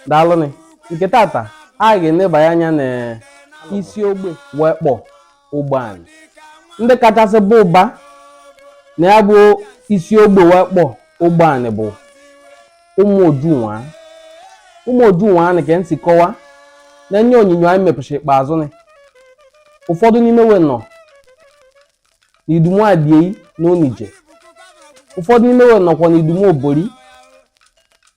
daalụnị nke tata a ga-enebanye anya na isi ogbe wee kpọ ogbeani ndị kachasị bụ ụba na ya bụ isi ogbe wee kpọ ogbeani bụ ụmụ ojunwa ụmụ ojunwa nke nsi kọwa na ihe onyinyo anyị mepụchara ikpeazụ nị ụfọdụ n'ime we nọ n'idumu adiei na onije ụfọdụ n'ime we nọkwa n'idumu obori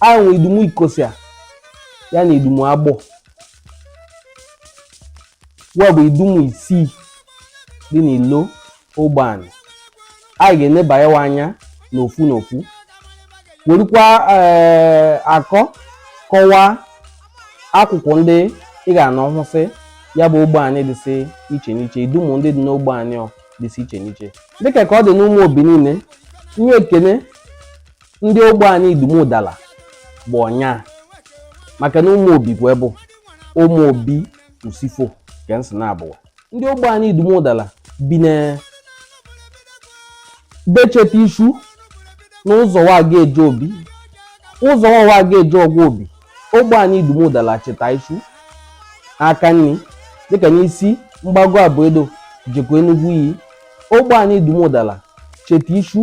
anyị nwe idumu ikosia ya na idumu agbọ wa bụ idumu isii dị n'ilo ogbeani anyị ga-enebayewa anya n'ofu n'ofu werukwa ee eh, akọ kọwaa akụkụ ndị ị ga-anọ hụsị ya bụ ogbeani dịsị iche n'iche idumu ndị dị n'ogbeani dịsị iche n'iche dịka ka ọ dị n'ụmụ obi niile ihe ekene ndị ogbeani idumu udala bụ ọnya maka na ụmụ obi bụ ebe ụmụ obi usifo ka nsị na-abụwa ndị ogbeani idumu udala bi n'ebe cheta ishu na ụzọ wa ga-eje obi ụzọ wa ga-eje ọgwa obi ogbeani idumu udala cheta ishu aka nni dịka n'isi mgbago abụedo jekwa enugwu iyi ogbeani idumu udala cheta ishu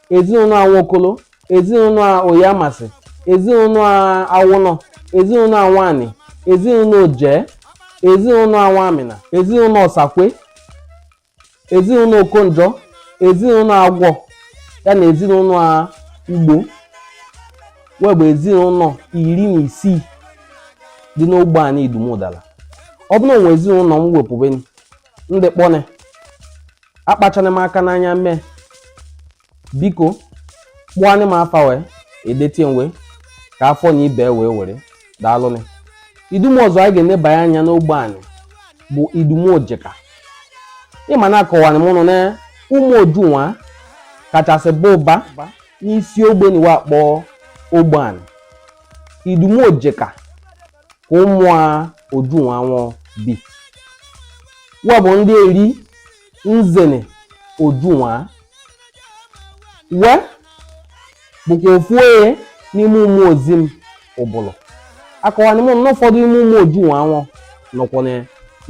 ezinụlọ a nwokolo ezinụlọ a oyamasị ezinụlọ a awụnọ ezinụlọ a nwani ezinụlọ oje ezinụlọ a nwamịna ezinụlọ ọsakwe ezinụlọ okonjọ ezinụlọ agwọ ya na ezinụlọ a ugbo wee bụ ezinụlọ iri na isii dị n'ogbeani idumu udala ọ bụrụ na o nwe ezinụlọ m wepụbeni ndị kpọne akpachana m aka n'anya mee biko kpọanị m afa wee edetie m wee ka afọ na ibe wee were daalụnị idumu ọzọ anyị ga-enebanye anya n'ogbeani bụ idumu ojeka ị ma na akọwani m unu na ụmụ ojunwa kachasị bụ ụba n'isi ogbe ni wa akpọ ogbeani idumu ojeka ka ụmụ a ojunwa nwụọ bi wa bụ ndị eri nzene ojunwa we bụkwa ofu onye n'ime ụmụ ozim ubulu akọwani m na ụfọdụ ime ụmụ ojunwa nwụọ nọkwa na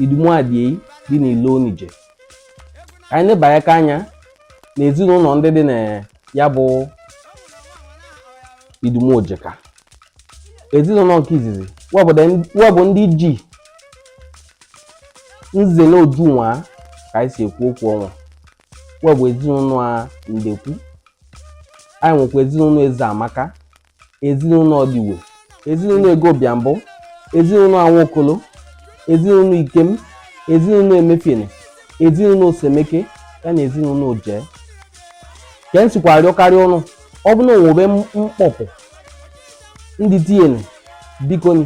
idumu adiei dị n'ilo onije ka anyị nebanyeka anya na ezinụlọ ndị dị na ya bụ idumu ojeka ezinụlọ nke izizi we bụ ndị ji nzene ojunwa ka anyị si ekwu okwu ọnwa we bụ ezinụlọ a ndekwu anyị nwekwa ezinụlọ eze amaka ezinụlọ ọdịwe ezinụlọ egobiambụ ezinụlọ anwokolo ezinụlọ ikem ezinụlọ emefiene ezinụlọ osemeke ya na ezinụlọ oje ka e sikwa arịọkarị ụnụ ọ bụ na o nwebe mkpọpụ ndị tinyere bikoni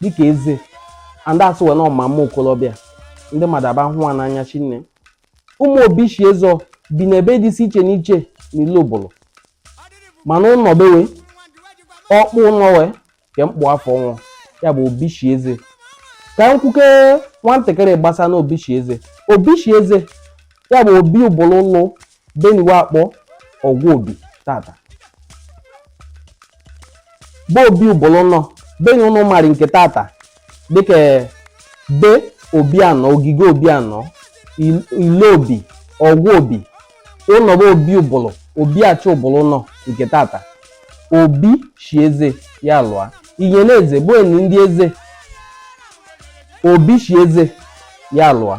dịka eze andị asị wee na ọ ma mma okolobịa ndị mmadụ aba hụ ha n'anya shinne ụmụ obi shi eze bi n'ebe dịsị iche n'iche n'ilu ubulu mana ụnọ be we ọkpụ ụnọ we ke mkpụ afọ nwụọ ya bụ obi shi eze ka m kwuke nwantakịrị gbasa na obi shi eze obi shi eze ya bụ obi ubulu lụ be ni we akpọ ọgwa obi tata bụ obi ubulu nọ be ni ụnụ marị nke tata dịka be obi anọ ogige obi anọ ile obi ọgwa obi ụnọ be obi ubulu obi achị ubulu nọ nke tata obi shi eze ya lụa inyere eze bụ enyi ndị eze obi shi eze ya lụa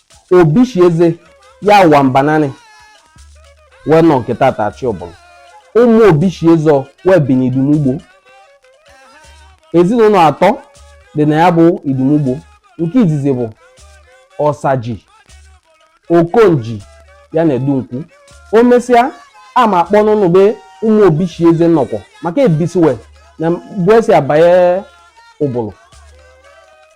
obi shi eze ya ụwa mbananị wee nọ nke tata achị ubulu ụmụ obi shi eze wee bi n'idumugbo ezinụlọ atọ dị na ya bụ idumugbo nke izizi bụ ọsaji okonji ya na edunkwu o mesịa a ma akpọ n'ụnụ be ụmụ obi shi eze nọkọ maka ebisiwe n'ebe e si abanye ubulu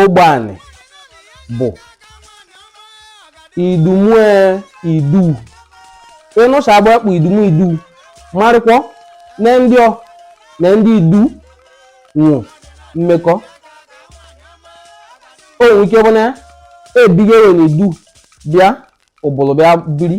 ogbeanị bụ idumu idu ị nụcha aba akpọ idumu idu marịkwọ na ndị ọ na ndị idu nwọ mmekọ o nwere ike bụ na ebigewe na idu bịa ubulu bịa biri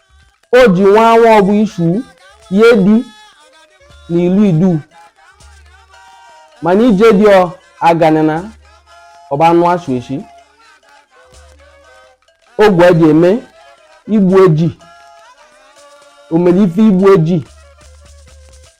o ji nwa anwa ọ bụ ishu ye di na ilu idu mana ije dị ọ aganana ọba anụ asụ eshi ogwe eji eme igbu eji omere ife igbu eji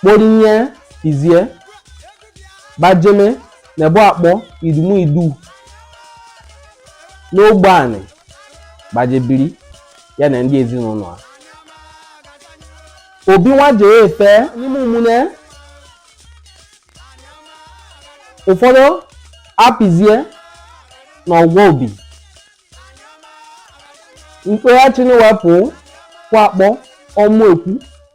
kporinye pịzie bajeme na ebe akpọ idumu idu n'ogbeanị baje biri ya na ndị ezinụlọ ha obi nwa jee efe n'ime ụmụnne ụfọdụ apịzie na ọgwa obi mkpeghachi na wepụ kwa akpọ ọmụ ekwu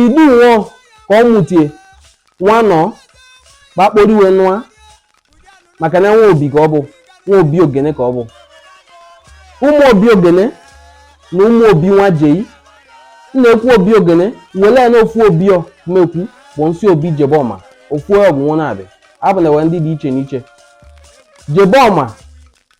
idu nwụọ ka ọ mụtie nwanọ gbakporiwe nwa maka na nwa obi ka ọ bụ nwa obi ogene ka ọ bụ ụmụ obi ogene na ụmụ obi wa jei na-ekwu obi ogene wele ya na ofu obi ọ mekwu bụ nsị obi jebọma ofu ọgwụ nwa na-abịa abụ na ewe ndị dị iche n'iche jebọma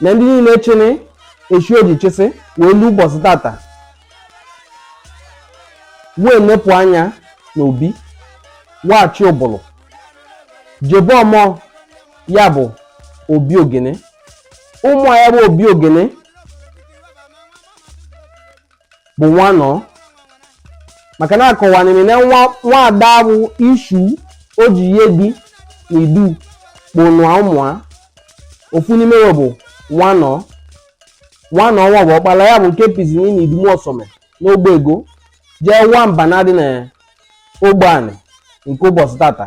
na ndị niile chini echi oji chịsị wee lu ụbọchị tata wee nepụ anya na obi wachi ubulu jebọma ya bụ obi ogene ụmụ ya bụ obi ogene bụ nwanọ maka na akọwanị m na nwaada bụ ishu o ji ihe di na idu kpọ nwa ụmụa ofu n'ime ya bụ nwanọ nwanọ nwa bụ ọkpala ya bụ nke pizini na idumu ọsọme n'ogbe ego jee wa mba na adị na ogbe anị nke ụbọchị tata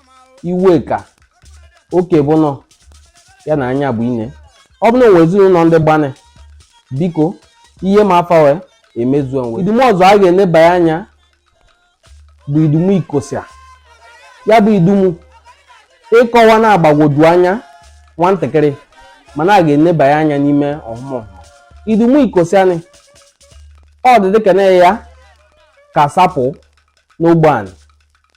iweka okebụnọ ya na anyabụine ọ bụ na o nwe ezinụlọ ndị gbanị biko ihe ma afa we emezue we idumu ọzọ a ga-enebanye anya bụ idumu ikosia ya bụ idumu ịkọwa na-agbagwoju anya nwantakịrị mana a ga-enebanye anya n'ime ọhụma ọhụma idumu ikosianị ọ dị dịka na ya ka sapụ n'ogbe anị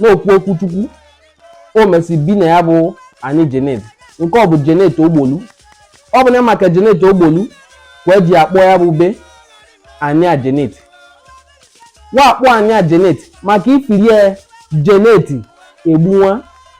na-ekwu okwu chukwu o mesi bi na ya bụ anị Janet nke bụ Janet Ogbolu ọ bụ na maka Janet Ogbolu ka we ji akpọ ya bụ ebe anị Janet wa akpọ anị Janet maka ifirie Janet egbunwa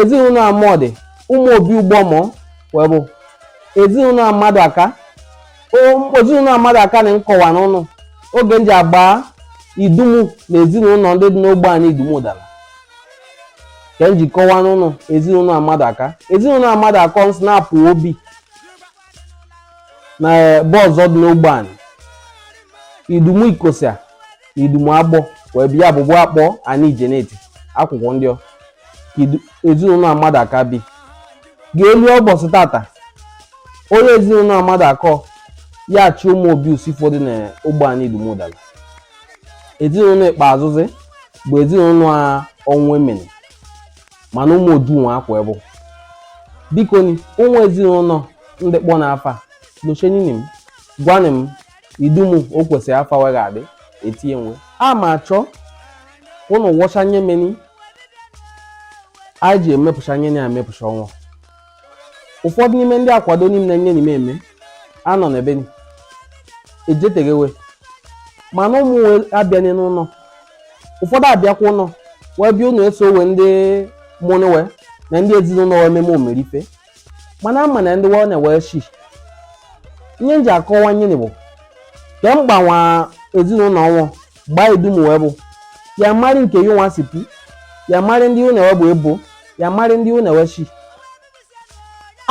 ezinụlọ amọdị ụmụ obi ugbọmọ we bụ ezinụlọ amadụaka ezinụlọ amadụaka na m kọwanị ụnụ oge m ji agba idumu na ezinụlọ ndị dị n'ogbe anị idumu ụdala ka m ji kọwanị ụnụ ezinụlọ amadụaka ezinụlọ amadụaka nsị na-apụ obi na ebe ọzọ dị n'ogbe anị idumu ikosia na idumu agbọ wee bịa abụbụ akpọ anị Janet akụkụ ndị ọ ka idu- ezinụlọ amadụaka bi ga-elu ụbọchị tata onye ezinụlọ amadụaka ya achị ụmụ obi usifo dị na ogbe anị idumu ụdala ezinụlọ ikpeazụzi bụ ezinụlọ a ọnwụemene mana ụmụ odunwa ka we bụ biko ni o nwe ezinụlọ ndị kpọ na afa nochenini m gwanị m idumu o kwesịrị afa we ga-adị etinye we a ma achọ ụnụ wọcha nye meni anyị ji emepụcha nye na emepụcha ọnwa ụfọdụ n'ime ndị akwado niile nye n'ime eme anọ n'ebe ni ejetegewe mana ụmụ we abịanye n'ụlọ ụfọdụ abịakwa ụlọ wee bịa ụlọ eso we ndị mụnụ we na ndị ezinụlọ we meme omerife mana ama na ndị we na we shi ihe nji akọwa ihe ni bụ ka mgbanwe ezinụlọ ọnwụ gbaa idumu we bụ ya mari nke yi nwa sipu ya mari ndị ụ na we bụ ebo ya mari ndị ụ na we shi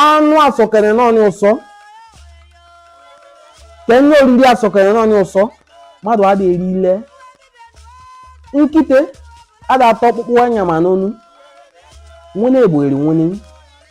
anụ asọkere n'ọnị ụsọ ka nye oriri asọkere n'ọnị ụsọ mmadụ ada eri ile nkite ada ata ọkpụkpụ a nyama n'onu nwene egbo eri nwene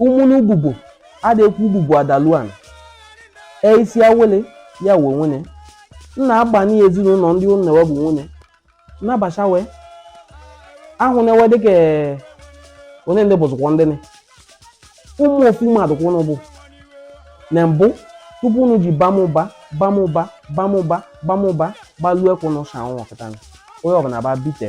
ụmụnụ ububo ada ekwu ububo adaluan eisi awele ya we nwene nna agbani ezinụlọ ndị ụnụ na we bụ nwene nna bacha we ahụ na we dịka ee, onye ndị bụzụkwa ndị nị. ụmụ ofu mmadụ ka ụnụ bụ na mbụ tupu ụnụ ji bam ụba bam ụba bam ụba bam ụba gbaluo ekwe ụnụ sha ụnụ kịta onye ọbụla ba bite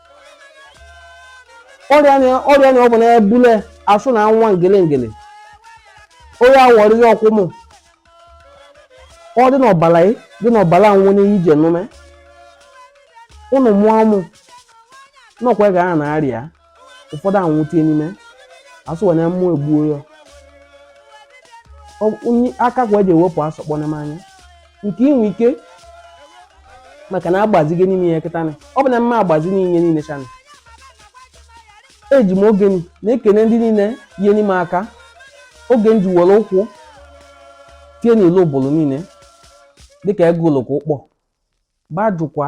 ọrịa na ọ bụ na-ebule asụ na nwa ngele ngele onye awọrịghị ọkwụmụ ọ dị n'ọbala ị dị n'ọbala nwụ n'ihe ije nụme ụnụ mụọ mụ n'ọkwa ga a na-arịa ụfọdụ anwụte n'ime asụ wee na mmụọ egbuo ya Ọ- onye aka kwa eji ewepụ asọkpọ n'ime anya nke inwe ike maka na agbazigo n'ime ya kịta na ọ bụ na mma agbazi ihe niile cha na eji m oge ni na-ekene ndị niile nyeni m aka oge ni ji were ụkwụ tie n'elu Ubulu niile dịka ego oloko ụkpọ gbajụkwa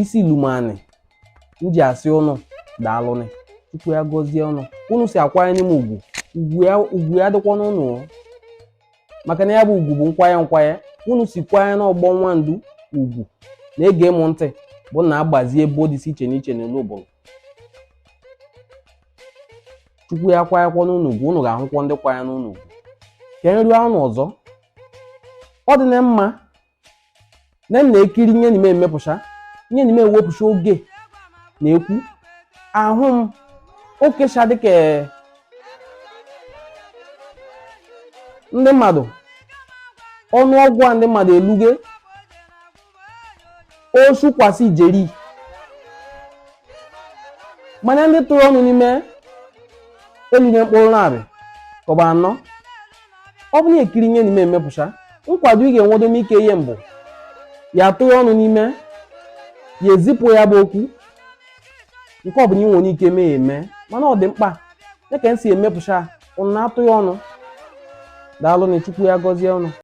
isi lumani m ji asị ụnụ daalụnị chukwu ya gọzie ụnụ ụnụ si akwanyeni m ugwu ugwu ya dịkwa n'ụnụ o. maka na ya bụ ugwu bụ nkwanye nkwanye ụnụ si kwanye n'ọgbọ Nwandu ugwu na-ege m ntị bụ na agbazie ebo dịsị iche n'iche n'elu Ubulu chukwu ya kwanyekwa n'ụnụ ugwu ụnụ ga-ahụkwa ndị kwanye n'ụnụ ugwu ka nri anụ ọzọ ọ dị na mma na m na-ekiri ihe ni m emepụcha ihe ni m ewepụcha oge na-ekwu ahụ m okecha dịka ee, ndị mmadụ ọnụọgụ a ndị mmadụ eluge osu kwasị ijeri mana ndị tụrụ ọnụ n'ime eluge mkpụrụ narị kọba anọ ọ bụrụ na ị kiri ya n'ime emepụcha nkwado ị ga-enwedo ike ihe mbụ ya tụ ya ọnụ n'ime ya ezipụ ya bụ okwu nke ọ bụla ị nwere ike mee ya eme mana ọ dị mkpa ya ka m si emepụcha ụnụ na-atụ ya ọnụ daalụ na chukwu ya gọzie ụnụ